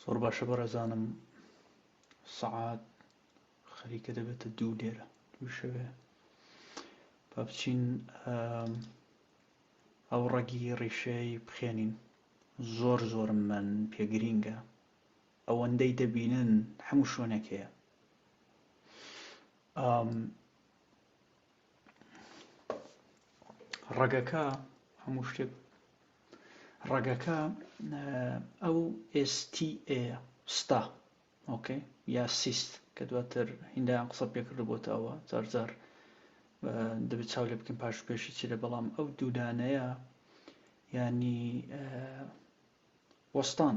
زۆر باشە بەڕێزانم سەعات خەریکە دەبێتە دوو لێرە دووشەوێ با بچین ئەو ڕەگی ڕیشەی بخێنین زۆر زۆر من پێگرینگە ئەوەندەی دەبینن هەموو شوێنێک هەیە ڕەگەکە هەموو شتێک ڕەگەکە ئەو ئێستیئێ ستا ئۆکەی یا سیست کە دواتر هیندایان قسە پێکرد بۆتە ئەوە زارزار دەبێت چاو لێ بکەین پاش پێشی چی لە بەڵام ئەو دوودانەیە ینی وەستان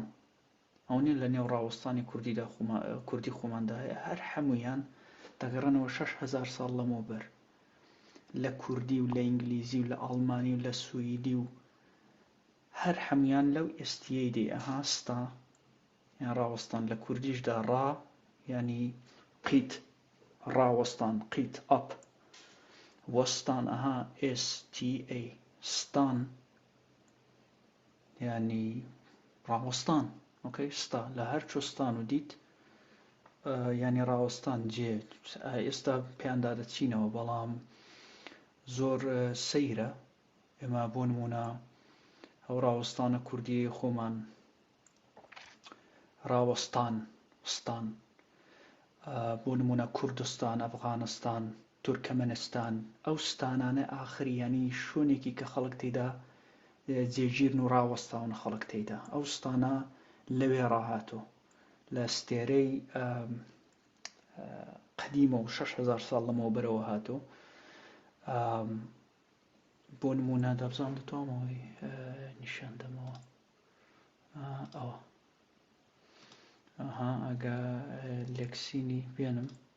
ئەوە نیە لە نێو ڕاوەستانی کوردیدا خۆما کوردی خۆماندا هەیە هەر حەموویان دەگەڕێنەوە شەش هەزار ساڵ لەمەوبەر لە کوردی و لە ئینگلیزی و لە ئاڵمانی و لە سویدی و هەر حەموویان لەو ئێستیەی دێ ئەها ستا یان ڕاوەستان لە کوردیشدا ڕا ینی قیت ڕاوەستان قیت ئەپ وەستان ئەها ئێستی ئەی ستان یانی ڕاوەستان ئۆکەی ستا لە هەر چۆستان و دیت یانی ڕاوەستان جێ ئێستا پێیاندا دەچینەوە بەڵام زۆر سەیرە ئێمە بۆ نمونە ئەو ڕاوەستانە کوردیەی خۆمان ڕاوەستان ستان بۆ نمونە کوردستان ئەفغانستان تورکەمەنستان، ئەو ستانانە ئاخر یانی شوێنێکی کە خەڵک تێیدا جێگیرن و ڕاوەستاون خەڵک تێیدا، ئەو ستانە لەوێ ڕاهاتوو لە ستێرەی قەدیمە و شەش هەزار ساڵ لەمەوبەرەوە هاتوو بۆ نمونە دەبزان دەتوامەوەی نیشان دەمەوە ئەوە ئەها ئەگە لەکسینی بێنم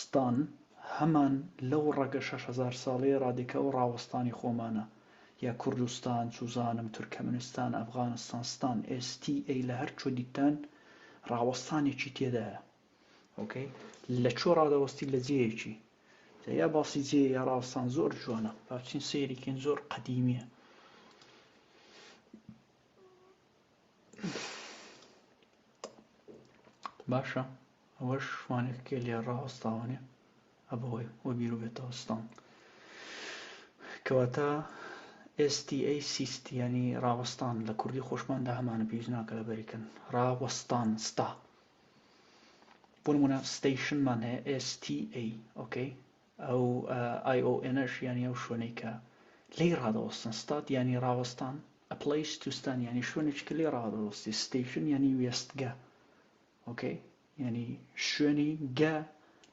ستان هەمان لەو ڕەگە شەش هەزار ساڵەی ڕادێکا و ڕاوەستانی خۆمانە، یا کوردستان، چوزانم، تورکەمنستان، ئەفغانستان، ستان، STA، لە هەر کوێ دیتتان ڕاوەستانێکی تێدایە. ئۆکەی. لە کوێ ڕادەوەستی لە جێیەکی. جا یا باسی جێیە یا ڕاوەستان زۆر جوانە. با بچین سەیری کەین زۆر قەدیمییە. باشە ئەوەش شوانێک کێ لێ ڕاوەستاوانێ ئەبەوەی وە بیرو بێتەوە ستان کەواتە ئێستی سیست ینی ڕاوەستان لە کوردی خۆشماندا هەمانە پێویست ناکە لە بەریکن ڕاوەستان ستا بۆ نمونە ستەیشنمان هەیە ئێستی ئەی ئۆکەی ئەو ئایۆئێنەش یانی ئەو شوێنەی کە لێی ڕادەوەستن، ستاد یانی ڕاوەستان، ئە پلەیس تو ستان یانی شوێنێکی کە لێی ڕادەوەستی، ستەیشن یانی وێستگە ئۆکەی یانی شوێنی، گە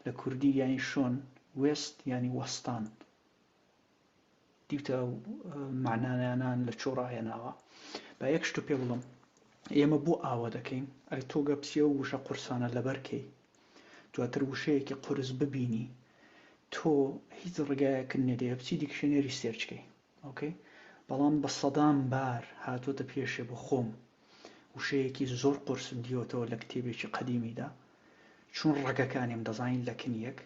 لە کوردی یانی شۆن، وێست یانی وەستان دیوتە و معنانانان لە چۆ ڕاهێناوە با یەک شتو پێ بڵم ئێمە بۆ ئاوە دەکەین ئەی تۆ گەپسیە و وشە قورسانە لەبەرکەی دواتر وشەیەکی قورس ببینی تۆ هیچ ڕگایەکن نێدەیە بچی دیکشنێری سێرچکەی ئۆکەی بەڵام بە سەدان بار هاتۆتە پێشێ بۆ خۆم وشەیەکی زۆر قرسم دیوەتەوە لە کتێبێکی قەدیمیدا چون ڕەگەکانیم دەزانین لە کنیەک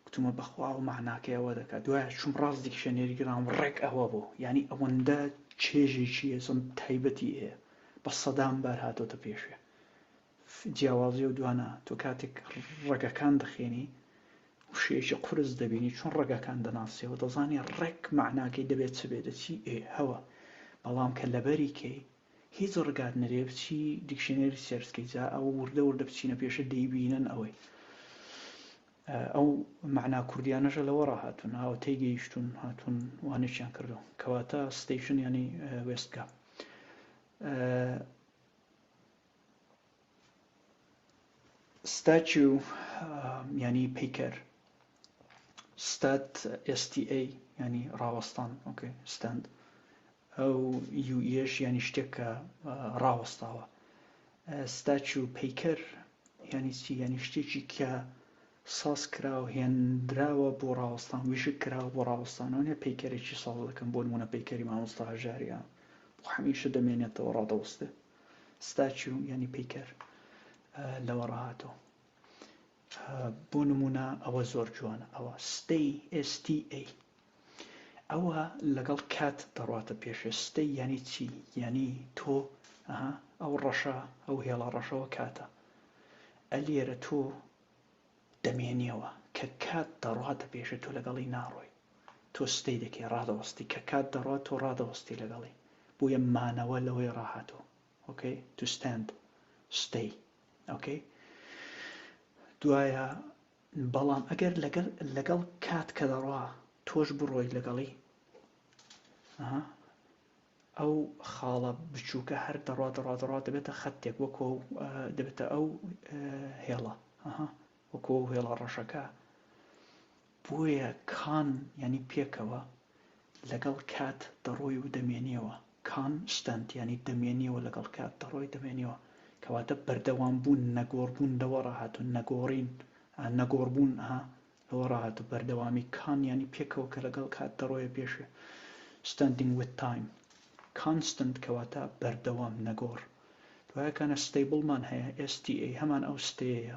گوتمە بەخوا ئەو مەعناکەی ئەوە دەکات دوایە چوم ڕاست دیکشەنێری گرام ڕێک ئەوە بوو یانی ئەوەندە چێژێکی هێزم تایبەتی هەیە بە سەدان بار هاتۆتە پێشێ جیاوازی و دوانە تۆ کاتێک ڕەگەکان دەخێنی وشەیەکی قورس دەبینی چۆن ڕەگەکان دەناسیەوە دەزانێ ڕێک مەعناکەی دەبێت چ بێ دەچی ئێ هەوە بەڵام کە لەبەری کەی هیچ ڕگات نەرێ بچی دیکشنەری سێرچکەی جا ئەوە وردە وردە بچینە پێشە دەیبینن ئەوەی ئەو مەعنا کوردیانەشە لەوە ڕاهاتون ئەوە تێگەیشتون هاتون وانێکیان کردو کەواتە ستەیشن یانی وێستگە ستاچو یانی پیکەر ستات STA ینی ڕاوەستان ئۆکەی ستاند ئەو یو یش یانی شتێک کە ڕاوەستاوە. ستاتیو پیکەر یانی چی؟ یانی شتێکی کە ساز کراو هێنراوە بۆ ڕاوەستان ویژک کراوە بۆ ڕاوەستانەوەێ پیکەرێکی ساز دەکەم بۆ نمونە پیکەری مامۆستا هەژاریان بۆ هەمیشە دەمێنێتەوە ڕادەوەستێ ستاتیو یانی پیکەر لەوە ڕاهاتەوە بۆ نموونە ئەوە زۆر جوانە ئەوە stay STA ئەوە لەگەڵ کات دەڕاتە پێشێ stay یانی چی یانی تۆ ئەها ئەو ڕەشە ئەو هێڵە ڕەشەوە کاتە ئەلێرە تۆ دەمێنیەوە کە کات دەڕاتە پێشێ تۆ لەگەڵی ناڕۆی تۆ ستەی دەکەی ڕادەوەستی کە کات دەڕات تۆ ڕادەوەستی لەگەڵی بۆیە مانەوە لەوەی ڕاهاتۆ ئۆکەی تو ستاند ستەی ئۆکەی دوایە بەڵام ئەگەر لەگەر لەگەڵ کات کە دەڕوا تۆش بڕۆی لەگەڵی ئەو خاڵە بچووکە هەر دەڕوا دەڕا دەڕا دەبێتە خەتێک وەکۆ دەبێتە ئەو هێڵە وەکۆ هێڵە ڕەشەکە بۆیە کان یانی پێکەوە، لەگەڵ کات دەڕۆی و دەمێنیەوە، Constant، یانی دەمێنیەوە لەگەڵ کات دەڕۆی دەمێنیەوە، کەواتە بەردەوام بوون، نەگۆڕ بوون لەوە ڕاهاتوو، نەگۆڕین، ئا، نەگۆڕ بوون، ئا، لەوە ڕاهاتوو، بەردەوامی، کان یانی پێکەوە کە لەگەڵ کات دەڕۆیە پێشێ، Standing with time، Constant، کەواتە بەردەوام، نەگۆڕ، دوایەکانە ستەیبڵمان هەیە، STA، هەمان ئەو ستەیەیە،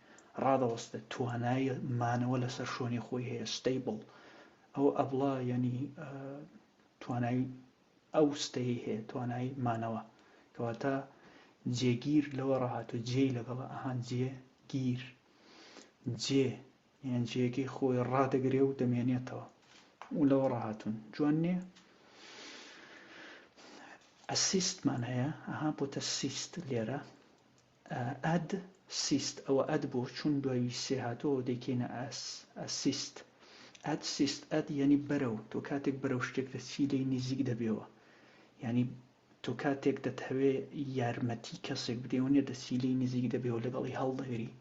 ڕادەوەستێت توانای مانەوە لەسەر شۆنی خۆی هەیە ستەیبڵ ئەو ئەبڵە یەنی توانای ئەو ستەی هەیە توانای مانەوە کەواتە جێگیر لەوە ڕاهات و جێ لەگەڵە ئەهان جێ گیر جێ یان جێگەی خۆی ڕادەگرێ و دەمێنێتەوە و لەوە ڕاهاتون جوان نییە ئەسیستمان هەیە ئەها بۆتە سیست لێرە ئەد، سیست، ئەوە ئەد بۆ چون دوای سێ هاتووە دەیکەینە ئەس، ئەسیست. ئەد، سیست، ئەد یەنی بەرەو، تۆ کاتێک بەرەو شتێک دەچی لێی نیزیک دەبیەوە. یەنی تۆ کاتێک دەتهەوێ یارمەتی کەسێک بدەی ئەوە نیە دەچی لێی نیزیک دەبیەوە لەگەڵی هەڵدەگری.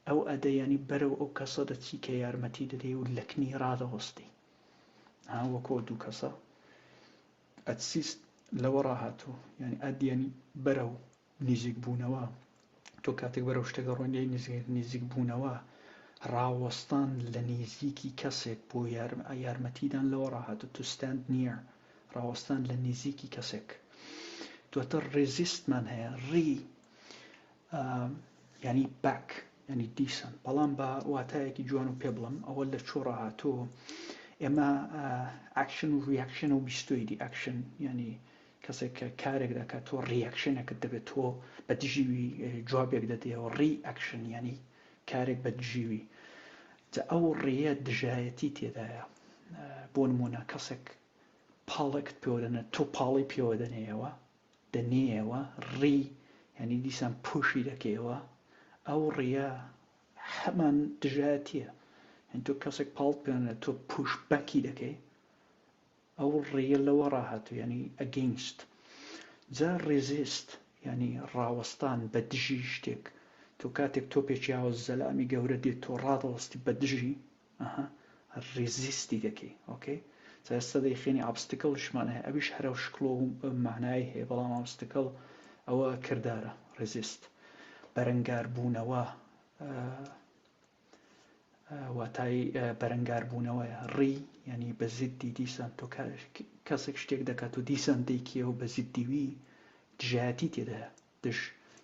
ئەو ئەدە یەنی بەرەو ئەو کەسە دەچی کە یارمەتی دەدەی و لەکنی ڕادەوەستی. ها وەکۆ دوو کەسە. ئەتسیست لەوەڕا هاتوو یانی ئەدیەن بەرەو نیزیک بوونەوە تۆ کاتێک بەرەو شتێک دەڕۆین یەی نیزیک نیزیک بوونەوە ڕاوەستان لە نیزیکی کەسێک بۆ یارم یارمەتیدان لەوەڕا هاتوو to stand near ڕاوەستان لە نیزیکی کەسێک دواتر ڕیزیستمان هەیە ڕی ئا یانی بەک یانی دیسان بەڵام بە واتایەکی جوان و پێ بڵم ئەوە لە چۆڕە هاتۆ ئێمە ئاکشن و ریاکشن و بیستۆیدی ئاکشن ینی کەسێک کە کارێک دەکات تۆ ریاکشنەکەت دەبێت تۆ بە دژیوی جوابێک دەدەەوە ڕی ئەکشن ینی کارێک بە دژیوی جا ئەو ڕێە دژایەتی تێدایە بۆ نمونە کەسێک پاڵێکت پێوەدەنە تۆ پاڵی پێوەدەنەیەوە دەنێیەوە ڕی یانی دیسان پۆشی دەکەیەوە ئەو ڕیە هەمان دژایەتیە یان تۆ کەسێک پاڵت پێێنە تۆ پوش بەکی دەکەی ئەو ڕێە لەوە ڕاهاتوو ینی ئەگەینست جا ڕێزیست ینی ڕاوەستان بە دژی شتێک تۆ کاتێک تۆپێکیاوە زەلامی گەورە دێت تۆ ڕادەوەستی بە دژی ئەها ریزیستی دەکەی ئۆکەی جا ئێستا دەیخەینی ئابستکڵیشمان هەیە ئەویش هەر ئەو شکڵ و مەعنای هەیە بەڵام ئابستکڵ ئەوە کردارە ریزیست بەرەنگاربوونەوە واتای بەرەنگاربوونەوەیە ڕی ینی بە زیدی دیسان تۆ کەسێک شتێک دەکات و دیسان دەیکیەوە بە زیدیوی دژایەتی تێدایە دژ،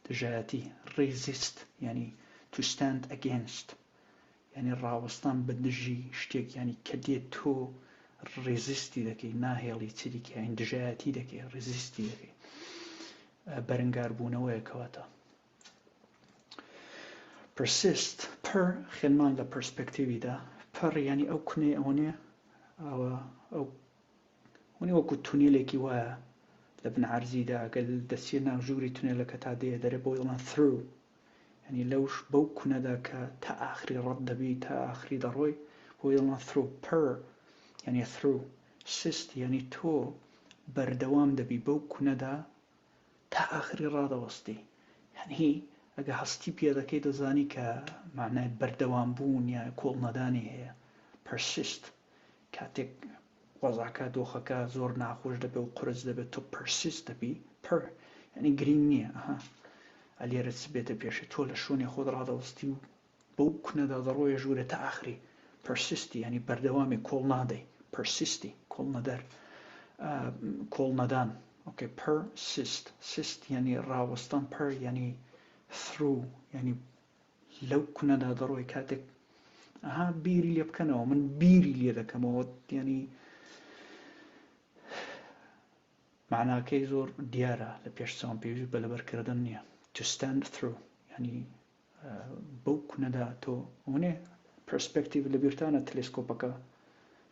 دژایەتی، Resist، یانی To stand against، یانی ڕاوەستان بە دژی شتێک یانی کە دێت تۆ ڕێزیستی دەکەی ناهێڵی چیدی کاین دژایەتی دەکەی ڕێزیستی دەکەی بەرنگار بوونەوەیە کەواتە پرسیست پر خێنمان لە پرسپەکتیویدا پڕ ینی ئەو کونەی ئەوەنێ ئەوە ئەو هونی وەکو تونێلێکی وایە لە بن عەرزیدا گەل دەسیە ناو ژووری تونێلەکە تا دێ دەرێ بۆی دەڵێن through یعنی لەوش بەو کونەدا کە تا ئاخری ڕەت دەبی تا ئاخری دەڕۆی بۆی دەڵێن through per یعنی through سست یعنی تۆ بەردەوام دەبی بەو کونەدا تا ئاخری ڕادەوەستی یعنی ئەگە هەستی پێ دەکەی دەزانی کە معنای بەردەوام بوون یا کۆڵ نەدانی هەیە persist کاتێک قۆزاکە دۆخەکە زۆر ناخۆش دەبێ و قورس دەبێت تۆ پرسیست دەبی پر یعنی گرینگ نییە ئەها ئەلێرە چ بێتە پێشی تۆ لە شوێنێ خۆت ڕادەوەستی و بەو کونەدا دەڕۆیە ژوورە تا ئاخری پرسیستی ینی بەردەوامی کۆڵ نادەی پرسیستی کۆڵ نەدەر کۆڵ نەدان ئۆکەی پر سیست سیست ینی ڕاوەستان پر ینی ثرو ینی لەو کونەدا دەڕۆی کاتێک ئەها بیری لێ بکەنەوە من بیری لێ دەکەمەوە یعنی معناکەی زۆر دیارە لە پێش چاوم پێویست بە لەبەرکردن نییە to stand through ینی بەو کونەدا تۆ ئەوەێ پرسپێکتیو لە بیرتانە تەلسکۆپەکە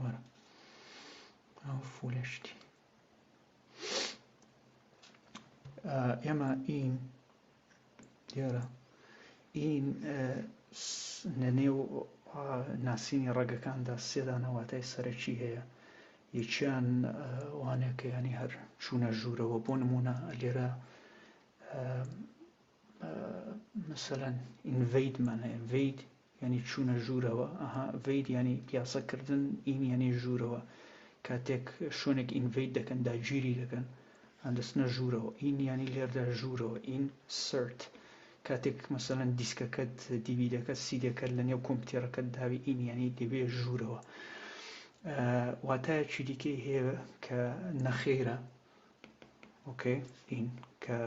وەرە ئەو فولە شتی ئێمە ئین دیارە ئین لە نێو ناسینی ڕەگەکاندا سێدانەواتای سەرەکی هەیە یەکیان وانەکەیانی هەر چوونە ژوورەوە بۆ نمونە لێرە مەسەلەن invade مانا invade یعنی چوونە ژوورەوە ئەها ڤید ینی پیاسەکردن ئین یعنی ژوورەوە کاتێک شوێنێک ئینڤید دەکەن داگیری دەکەن دەستنە ژوورەوە ئین ینی لێردا ژوورەوە ئین سرت کاتێک مەسەەن دیسکەکەت دیبی دەکەت سی دەکەت لە نێو کۆمپتێرەکەت داوی ئین ینی دەبێ ژوورەوە واتایەکی دیکەی هەیە کە نەخێرە ئۆکەی ئین کە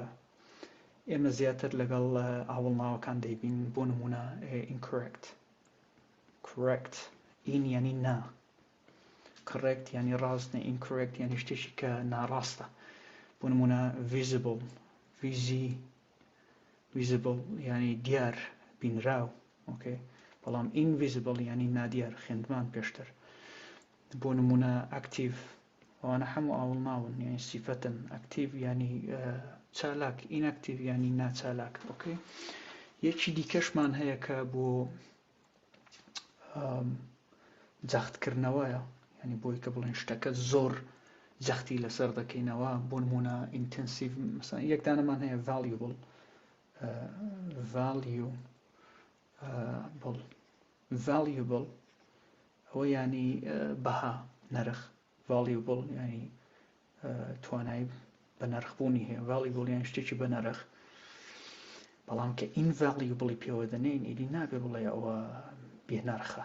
ئێمە زیاتر لەگەڵ ئاوڵناوەکان دەیبین بۆ نمونە incorrect correct این یعنی نا correct یعنی ڕاست نە incorrect یعنی شتێکی کە ناڕاستە بۆ نمونە visible ویزی ویزبڵ ینی دیار بینراو ئۆکەی بەڵام ئینڤیزبڵ ینی نادیار خوێندمان پێشتر بۆ نمونە ئەکتیڤ ئەوانە حەموو ئاوڵناون یانی سیفەتن ئەکتیڤ یانی چالاک ئینئەکتیڤ یانی ناچالاک ئۆکەی یەکی دیکەشمان هەیە کە بۆ جەختکردنەوەیە ینی بۆی کە بڵێن شتەکە زۆر جەختی لەسەر دەکەینەوە بۆ نمونە ئینتەنسیڤ یەکدانەمان هەیە ڤالیبل ڤالیو بڵ، Valuable، ەوە یانی بەها، نرخ، Valuable، یانی توانای بە نرخ بوونی هەیە، Valuable، یان شتێکی بە نرخ. بەڵام کە ئین ڤاڵی بڵی پێوە دەنێن ئیدی نابێ بڵێ ئەوە بێ نرخە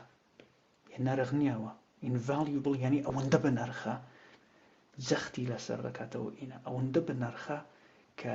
بێ نرخ نییەوە ئینڤالی بڵ یعنی ئەوەندە بە نرخە جەختی لەسەر دەکاتەوە ئینە ئەوەندە بە نرخە کە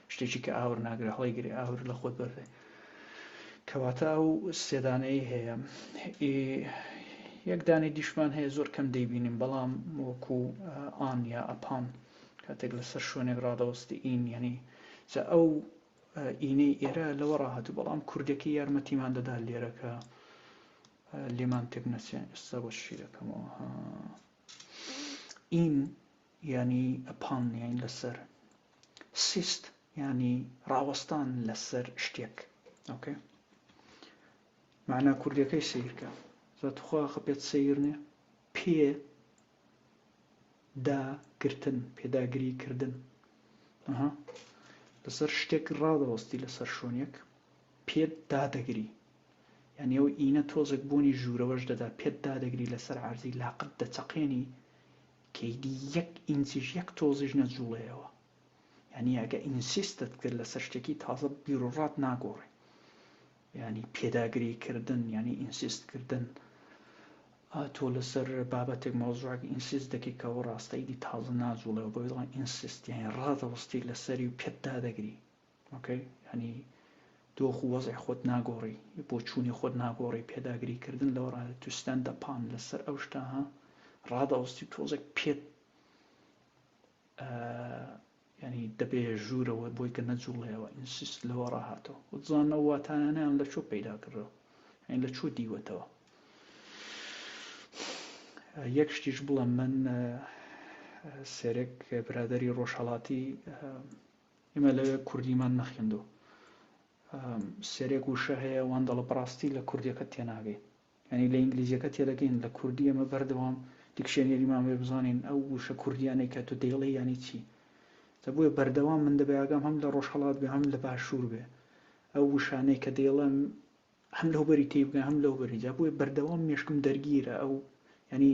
شتێکی کە ئاور ناگرێ هەڵی گرێ ئاور لە خۆت بەرێ کەواتە و سێدانەی هەیە یەکدانی دیشمان هەیە زۆر کەم دەیبینیم بەڵام وەکو ئان یا ئەپان کاتێک لەسەر شوێنێک ڕادەوەستی ئین یعنی جا ئەو ئینەی ئێرە لەوە ڕاهات و بەڵام کوردەکەی یارمەتیمان دەدا لێرەکە لێمان تێک نەچێن ئێستا بۆ شیرەکەمەوە ئین یانی ئەپان یانی لەسەر. سیست یانی ڕاوەستان لەسەر شتێک ئۆکەی مەعنا کوردیەکەی سیرکە زە توخوا خە پێت سیرنێ پێ دا گرتن پێداگری کردن ئەها لەسەر شتێک ڕادەوەستی لەسەر شوێنێک پێت دادەگری یانی ئەو ئینە تۆزێک بۆنی ژوورەوەش دەدا پێت دادەگری لەسەر عەرزی لاقت دەچەقێنی کەیدی یەک ئینچیش یەک تۆزیش نەجوڵێیەوە یانی ئەگە ئینسیستت کرد لەسەر شتێکی تازە بیروڕات ناگۆڕێ یانی پێداگری کردن یانی ئینسیست کردن تۆ لەسەر بابەتێک مۆزڕاک ئینسیز دەکەی کە ئەو ڕاستەیدی تازە ناجوڵێەوە بۆ دڵان ئینسیستیانی ڕادەوەستی لەسەری و پێتدا دەگری ئۆکەی یانی دۆخ و وەزعی خۆت ناگۆڕی بۆچوونی خۆت ناگۆڕی پێداگری کردن لەوە ڕادە تو ستاند ئەپ پان لەسەر ئەو شتە ها ڕادەوەستی تۆزێک پێت ینی دەبێ ژوورەوە بۆی کە نەجوڵەیەوە ئینسیست لەوە ڕاهاتەوە وزانەوە واتانیان لە چۆ پەیدا کردەوە ئەین لە چۆ دیوەتەوە یەک شتیش بڵێم من سێرێک برادری ڕۆژهڵاتی ئێمە لەوێ کوردیمان نەخوێندووە. سەرێک وشە هەیە وان دەڵێ بەڕاستی لە کوردیەکەت تێناگەی. یانی لە ئینگلیزیەکە تێدەگەین لە کوردی ئێمە بەردەوام دیکشێنێریمان بێ بزانین ئەو وشە کوردیانەی کە تۆ دەیڵێ یانی چی. جا بۆیە بەردەوام من دەبێ ئاگام هەم لە ڕۆژهەڵات بێ هەم لە باشوور بێ. ئەو وشانەی کە دەیڵێم هەم لەوبەری تێی بگەم هەم لەوبەری جا بۆیە بەردەوام مێشکم دەرگیرە ئەو یانی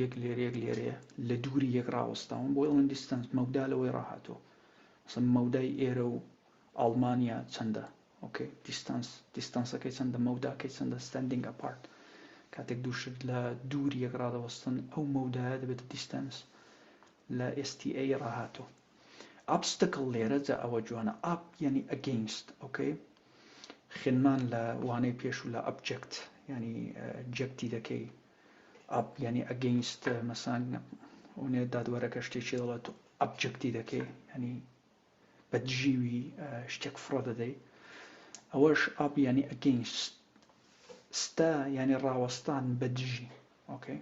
یەک لێرە یەک لێرەیە لە دووری یەک ڕاوەستاون بۆ ئەڵێن دیستنس مەودا لەوەی ڕاهاتوە سم مەودای ئێرە و ئەڵمانیا چەندە ئۆکەی دیستنس دیستنسەکەی چەندە مەوداکەی چەندە ستندنگ ئەپارت کاتێک دووشت لە دووری یەک ڕادەوەستن ئەو مەودایە دەبێت دیستنس لە STA ڕاهاتوە ئابستکل لێرە جا ئەوە جوانە ئاپ یعنی ئەگەینست ئۆکەی خێنمان لە وانەی پێش و لە ئەبجەکت ینی جەکتی دەکەی ئەپ یعنی ئەگەینست مەسان ئەونێ دادوەرەکە شتێکی دەڵێت تۆ ئەبجکتی دەکەی ینی بە دژیوی شتێک فڕە دەدەی ئەوەش ئاپ ینی ئەگەینست ستا ینی ڕاوەستان بە دژی ئۆکەی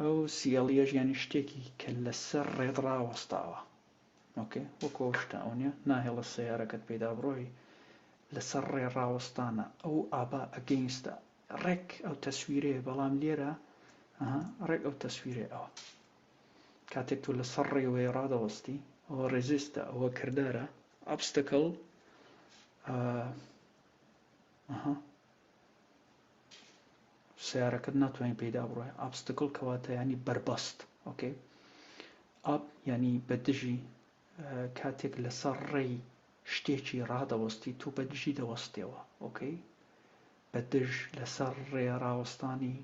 ئەو سیڵیەش ینی شتێکی کە لەسەر ڕێت ڕاوەستاوە ئۆکەی وەکۆ شتە ئەو نیە ناهێڵە سیارەکەت پێدا بڕۆی لەسەر ڕێ ڕاوەستانە ئەو ئابا ئەگەینستە ڕێک ئەو تەسویرەیە بەڵام لێرە ئەها ڕێک ئەو تەسویرەی ئەوە کاتێک تۆ لەسەر ڕێوەیە ڕادەوەستی ئەوە ڕێزیستە ئەوە کردارە ئەبستەکەڵ ئەها سیارەکەت ناتوانین پێدا بڕۆێ ئابستکل کەواتە ینی بەربەست ئۆکەی ئاپ ینی بە دژی کاتێک لەسەر ڕێی شتێکی ڕادەوەستی تو بە دژی دەوەستێەوە ئۆکەی بە دژ لەسەر ڕێ ڕاوەستانی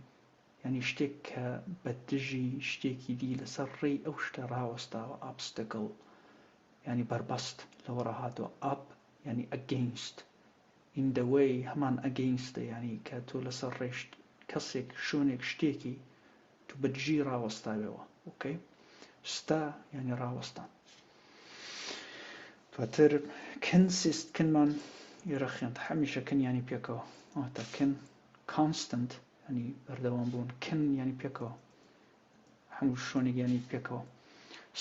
یانی شتێک کە بە دژی شتێکی دی لەسەر ڕێی ئەو شتە ڕاوەستاوە ئابستەکڵ یانی بەربەست لەوەڕا هاتووە ئاب یانی ئەگەینست ئین دە وەی هەمان ئەگەینستە یانی کە تۆ لەسەر ڕێشت کەسێک شۆنێک شتێکی تو بەدژی ڕاوەستاوێوە ئۆکەی ستا یانی ڕاوەستان دواتر کن سیست کنمان ئێرە خوێند هەمیشە کن یانی پێکەوە ئەواتە کن کانستنت ینی بەردەوام بوون کن یانی پێکەوە هەموو شوێنێک یانی پێکەوە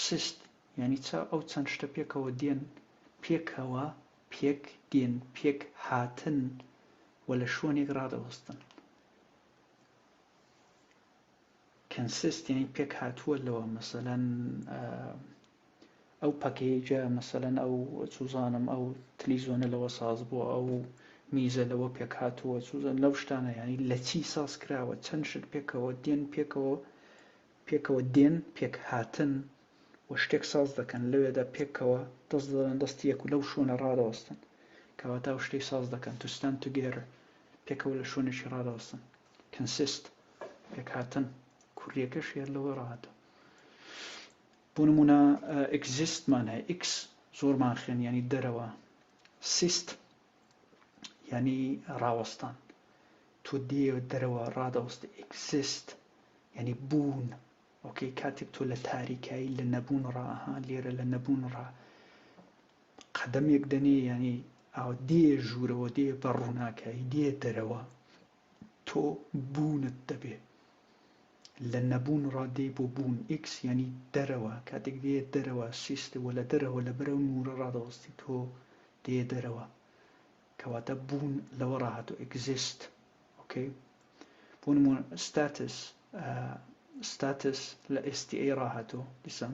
سیست یعنی چا ئەو چەند شتە پێکەوە دێن پێکەوە پێک دێن پێک هاتن و لە شوێنێک ڕادەوەستن کنسست یانی پێک هاتووە لەوە مەسەلەن ئەو پەکەیجە مەسەلەن ئەو چوزانم ئەو تلیزۆنە لەوە ساز بووە ئەو میزە لەوە پێک هاتووە چوزان لەو شتانە ینی لە چی ساز کراوە چەند شت پێکەوە دێن پێکەوە پێکەوە دێن پێک هاتن و شتێک ساز دەکەن لەوێدا پێکەوە دەست دەڵێن دەستی یەک و لەو شوێنە ڕادەوەستن کەواتە و شتەی ساز دەکەن توستان توگێرە پێکەوە لە شوێنێکی ڕادەوەستن Consist، پێکهاتەن، کوریەکەش هێر لەوە ڕاهاتە. بۆ نموونە Exist مان هەیە، Ex زۆرمان خوێن یانی دەرەوە، Sist یانی ڕاوەستان، تۆ دێ دەرەوە ڕادەوەست، Exist یانی بوون، ئۆکەی کاتێک تۆ لە تاریکایی لە نەبوون ڕاها لێرە لە نەبوون ڕا قەدەمێک دەنێ یانی ئاو دێ ژوورەوە دێ بە ڕووناکایی دێ دەرەوە تۆ بوونت دەبێ لە نەبوون ڕادێی بۆ بوون، X، یانی دەرەوە، کاتێک دێیە دەرەوە، Sist، وە لە دەرەوە لەبەر ئەو نوورە ڕادەوەستی تۆ دێیە دەرەوە کەواتە بوون لەوەڕا هاتووە، Exist، ئۆکەی؟ بۆ نموونە Status، Status، لە STA ڕاهاتووە، دیسان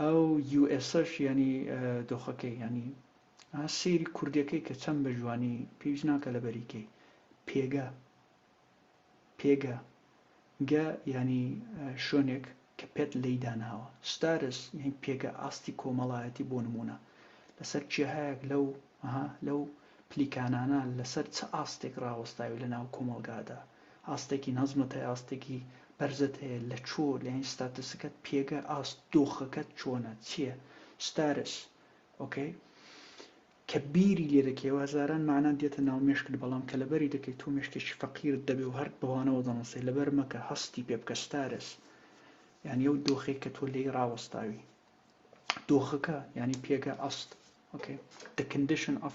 ئەو یو ئێسەش یانی دۆخەکەی یانی ئا سەیری کوردەکەی کە چەند بە جوانی پێویست ناکە لە بەریکەی پێگە پێگە گە ینی شوێنێک کە پێت لی داناوە ستارس یان پێگە ئاستی کۆمەڵایەتی بۆ نمونە لەسەر چێهایەک لەو لەو پلیکانانە لەسەر چ ئاستێک ڕاوەستاوی لە ناو کۆمەلگادا ئاستێکی نەزمت هەیە ئاستێکی بەرزت هەیە لە چۆ لەین ستاتسکەت پێگە ئاست دۆخەکەت چۆنە چیە ستارس ئۆکەی کە بیری لێ دەکەی وهزاران مەعنا دێتە ناو مێشکت بەڵام کە لەبەری دەکەی تۆ مێشکێکی فەقیرت دەبێ و هەر بەوانەوە دەنوسێ لەبەر مەکە هەستی پێ بکە ستارس یعنی ئەو دۆخێک کە تۆ لێی ڕاوەستاوی دۆخەکە ینی پێگە ئەست okay the condition of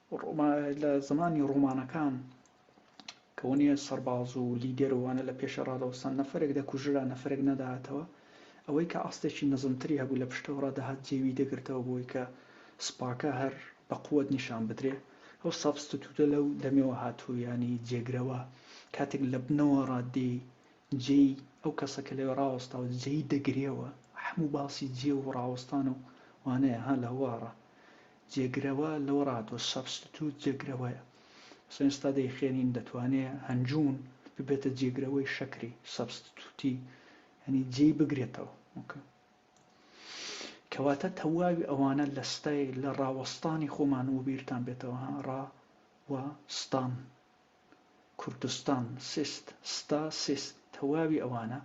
لە زمانی ڕۆمانەکان کە ونێ سەرباز و لیدەر و وانە لە پێشێ ڕادەوەستان نەفەرێک دەکوژرا نەفەرێک نەدەهاتەوە، ئەوەی کە ئاستێکی نزمتری هەبوو لە پشتەوە ڕادەهات جێ وی دەگرتەوە بۆی کە سوپاکە هەر بە قوت نیشان بدرێ، ئەو سابستتوتە لەو دەمەوە هاتووە یانی جێگرەوە کاتێک لە بنەوە ڕا دێی جێی ئەو کەسە کە لەوێ ڕاوەستاوە جێی دەگرێوە، حەموو باسی جێ و ڕاوەستان و وانەیە ها لە هەوار ڕا جێگرەوە لەوە ڕاتەوە سەبستیتوت جێگرەوەیە ئەسڵەن ئێستا دەیخوێنین دەتوانێ هەنجوون ببێتە جێگرەوەی شەکری سەبستیتوتی یعنی جێی بگرێتەوە ئۆکە کەواتە تەواوی ئەوانە لە ستای لە ڕاوەستانی خۆمان و بیرتان بێتەوە ها ڕا و ستان کوردستان سیست ستا سیست تەواوی ئەوانە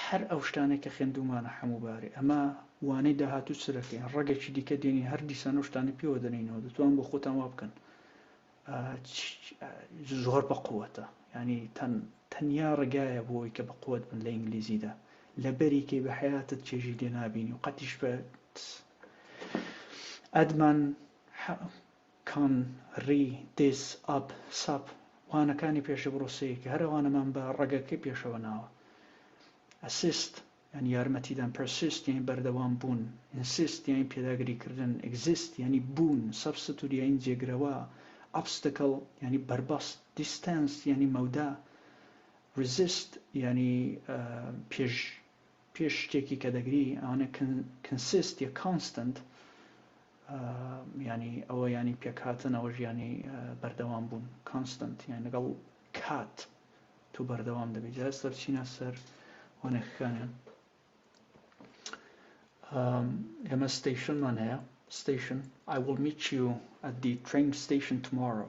هەر ئەو شتانەی کە خێندوومانە حەموو بارێ ئەمە وانەی داهاتوو چرەکەین ڕەگەکی دیکە دێنین هەر دیسان ئەو شتانە پێوە دەنینەوە دەتوان بۆ خۆتان وا بکەن زۆر بە قووەتە ینی تەن تەنیا ڕێگایە بۆی کە بە قوت بن لە ئینگلیزیدا لە بەریکەی بە حیاتت چێژی لێ نابینی و قەتیش بە ئەدمان کان، ری، دیز، ئاب، ساپ، وانەکانی پێشە بڕوسەیەکە هەر ئەوانەمان بە ڕەگەکەی پێشەوە ناوە. ئەسیست، یانی یارمەتیدان، پەرسیست، یانی بەردەوام بوون، ئینسیست، یانی پێداگری کردن، ئیگزیست، یانی بوون، سەبستتوت، یانی جێگرەوە، ئۆبستەکل، یانی بەربەست، دیستانس، یانی مەودا، ریزیست، یانی پێش پێش شتێکی کە دەگری ئەوانە Consist یە Constant یانی ئەوە یانی پێکهاتن ئەوەش یانی بەردەوام بوون Constant یان لەگەڵ کات تۆ بەردەوام دەبی جا ئێستا بچینە سەر وەنەکەکانیان لەمە ستەیشنمان هەیە Station I will meet you at the train station tomorrow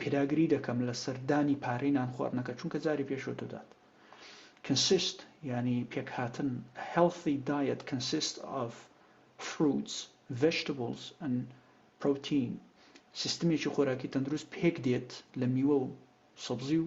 پێداگری دەکەم لەسەر دانی پارەی نانخواردنەکە چونکە جاری پێشوە دەدات Consist یانی پێکهاتن A healthy diet consists of fruits, vegetables and protein سیستمێکی خۆراکی تەندروست پێکدێت لە میوە و سەبزی و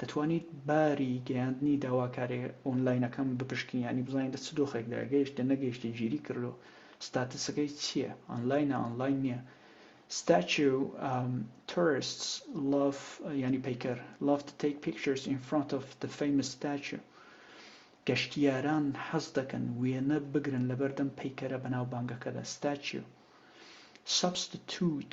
دەتوانیت باری گەیاندنی داواکاریە ئۆنلاینەکەم بپشکنی یانی بزانیت لە چ دۆخێکدایە گەیشتە نەگەیشتە گیری کردوە ستاتسەکەی چیە ئۆنلاینە ئۆنلاین نیە ستاتیو تۆرستس لاف یانی پەیکەر لاف تو تەیک پیکچەرس ئین فرانت ئۆف دە فەیمس ستاتیو گەشتیاران حەز دەکەن وێنە بگرن لەبەردەم پەیکەرە بەناوبانگەکەدا ستاتیو سەبستیتوت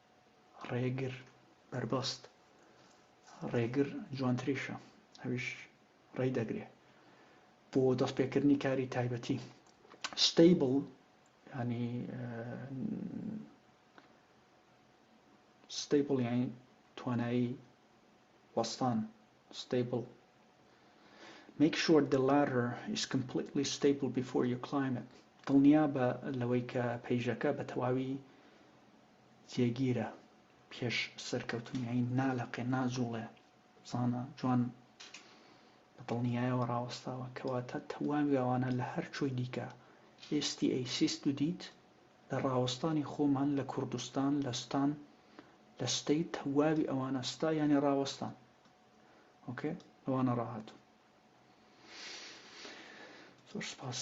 ڕێگر بەربەست ڕێگر جوانتریشە ئەویش ڕێی دەگرێ بۆ دەستپێکردنی کاری تایبەتی ستەیبڵ ینی ستەیبڵ یانی توانایی وەستان ستەیبڵ Make sure the ladder is completely stable before you climb it دڵنیا بە لەوەی کە پەیژەکە بە تەواوی جێگیرە پێش سەرکەوتنی عید نالەقێ ناجوڵێ بزانە جوان بە دڵنیایەوە ڕاوەستاوە کەواتە تەواوی ئەوانە لە هەر کوێی دیکە ئێستی ئەی سیست و دیت لە ڕاوەستانی خۆمان لە کوردستان لە ستان لە ستەی تەواوی ئەوانە ستا یانی ڕاوەستان ئۆکێ ئەوانە ڕاهاتوو زۆر سپاس